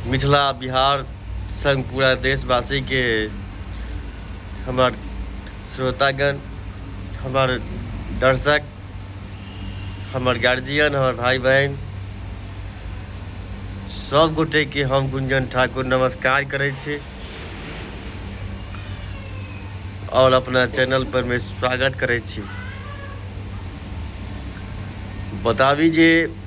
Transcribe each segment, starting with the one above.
मिथिला बिहार संग पूरा देशवासी के हमर श्रोतागण हमर दर्शक हमर गार्जियन हमर भाई बहन सब गोटे के हम गुंजन ठाकुर नमस्कार करे छी और अपना चैनल पर में स्वागत करे छी बताबी जे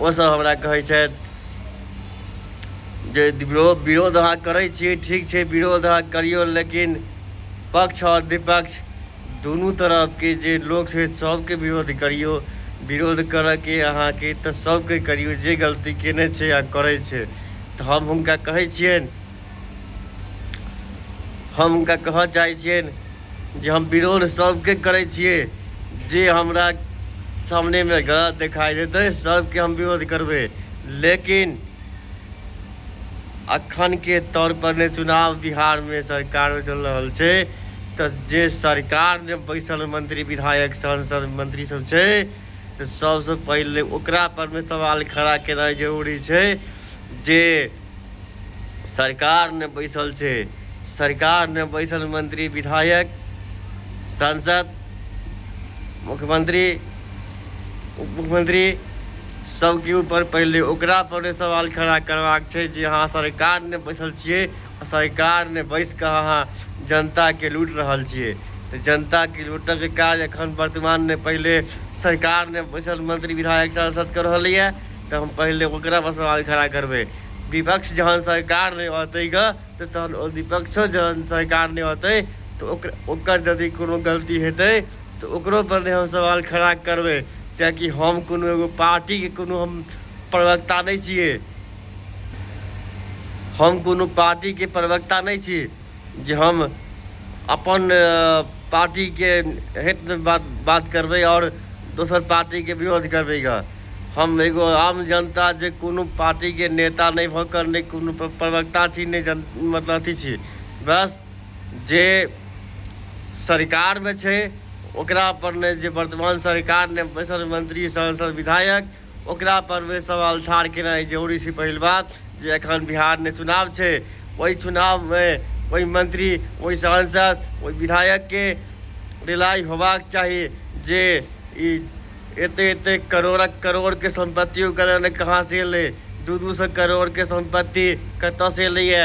ओसभ हमरा कहै छथि जे विरोध विरोध अहाँ करै छियै ठीक छै विरोध अहाँ करियौ लेकिन पक्ष आओर विपक्ष दुनू तरफके जे लोक छै सभके विरोध करियौ विरोध करयके अहाँके तऽ सभके करियौ जे गलती कयने छै आ करै छै तऽ हम हुनका कहै छियनि हम हुनका कहय चाहै छियनि जे हम विरोध सबके करै छियै जे हमरा सामनेमे गलत देखाइ देतै सबके हम विरोध करबै लेकिन अखनके तौर पर ने चुनाव बिहारमे सरकारमे चलि रहल छै तऽ जे सरकारमे बैसल मंत्री विधायक सांसद मंत्री सब छै तऽ सबसँ पहिले ओकरा परमे सवाल खड़ा केनाइ जरूरी छै जे सरकार ने बैसल छै सरकार ने बैसल मंत्री विधायक सांसद मुख्यमंत्री उप मुख्यमंत्री सबके ऊपर पहिले ओकरा पर सवाल खड़ा करबाक छै जे अहाँ सरकार ने बैसल छियै सरकार ने बैस कऽ अहाँ जनताके लूट रहल छियै तऽ जनताके लूटऽके काज एखन वर्तमानमे पहिले सरकार ने बैसल मंत्री विधायक सांसद कऽ रहलैए तऽ हम पहिले ओकरा पर सवाल खड़ा करबै विपक्ष जहन सरकार नहि रहतै ग तऽ तहन ओ विपक्षो जहन सरकार नहि रहतै तऽ ओक ओकर यदि कोनो गलती हेतै तऽ ओकरो पर नहि हम सवाल खड़ा करबै किएकि हम कोनो एगो पार्टीके कोनो हम प्रवक्ता नहि छियै हम कोनो पार्टीके प्रवक्ता नहि छी जे हम अपन पार्टीके हितमे बात बात करबै आओर दोसर पार्टीके विरोध करबै गऽ हम एगो आम जनता जे कोनो पार्टीके नेता नहि भऽ कऽ नहि कोनो प्रवक्ता छी नहि जन मतलब अथी छी बस जे सरकारमे छै ओकरापर नहि जे वर्तमान सरकारमे बैसल मन्त्री सांसद विधायक ओकरा पर वे सवाल ठाढ़ केनाइ जरूरी छै पहिल बात जे एखन बिहारमे चुनाव छै ओहि चुनावमे ओहि मंत्री ओहि सांसद ओहि विधायकके रिलाइ होबाक चाही जे ई एते एते करोड़क करोड़के सम्पत्ति ओकर कहाँ से एलै दू दू सए करोड़के सम्पत्ति कतऽ से एलैया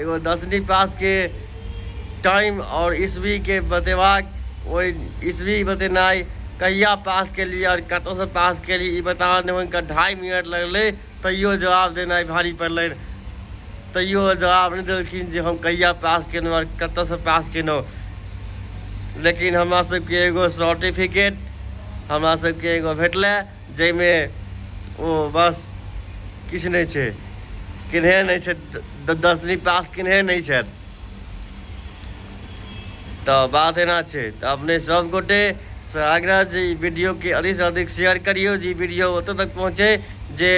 एगो दसवीं पास के टाइम और ईस्वी के बतेबाक ओहि ईस्वी बतेनाइ कहिया पास केलियै और कतौ से पास केलियै ई बताबऽ में हुनका ढाई मिनट लगलै तैयो जवाब देनाइ भारी पड़लनि तैयो जवाब नहि देलखिन जे हम कहिया पास केलहुँ और कतौ से पास केलहुँ लेकिन हमरा सबके एगो सर्टिफिकेट हमरा सबके एगो भेटलै जाहिमे ओ बस किछु नहि छै किन्हे नहि छै दसमी पास किन्हे नहि छथि तऽ बात एना छै तऽ अपने सब गोटे से आग्रह जे ई वीडियोके अधिकसँ अधिक शेयर करियौ जे ई वीडियो ओतऽ तक पहुँचे जे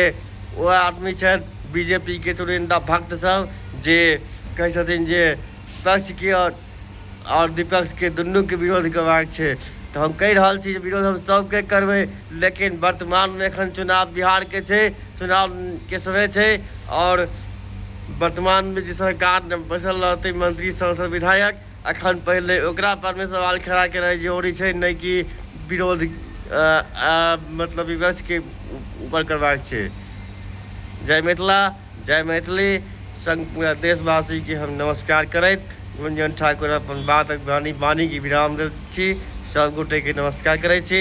ओ आदमी छथि बीजेपीके चुनिन्दा भक्तसभ जे कहै छथिन जे पक्षके आओर आओर विपक्षके दुनूके विरोध करबाक छै तऽ हम कहि रहल छी जे विरोध हम सभके करबै लेकिन वर्तमानमे एखन चुनाव बिहारके छै चुनावके समय छै आओर वर्तमानमे जे सरकार बैसल रहतै मंत्री सांसद विधायक एखन पहिले ओकरा परमे सवाल खड़ा केनाइ जरूरी छै नहि कि विरोध मतलब विपक्षके ऊपर करबाक छै जय मिथिला जय मैथिली संग पूरा देशवासी के हम नमस्कार करैत गुंजन ठाकुर अपन बातक वाणी वाणी के विराम दैत छी सब गोटे के नमस्कार करै छी।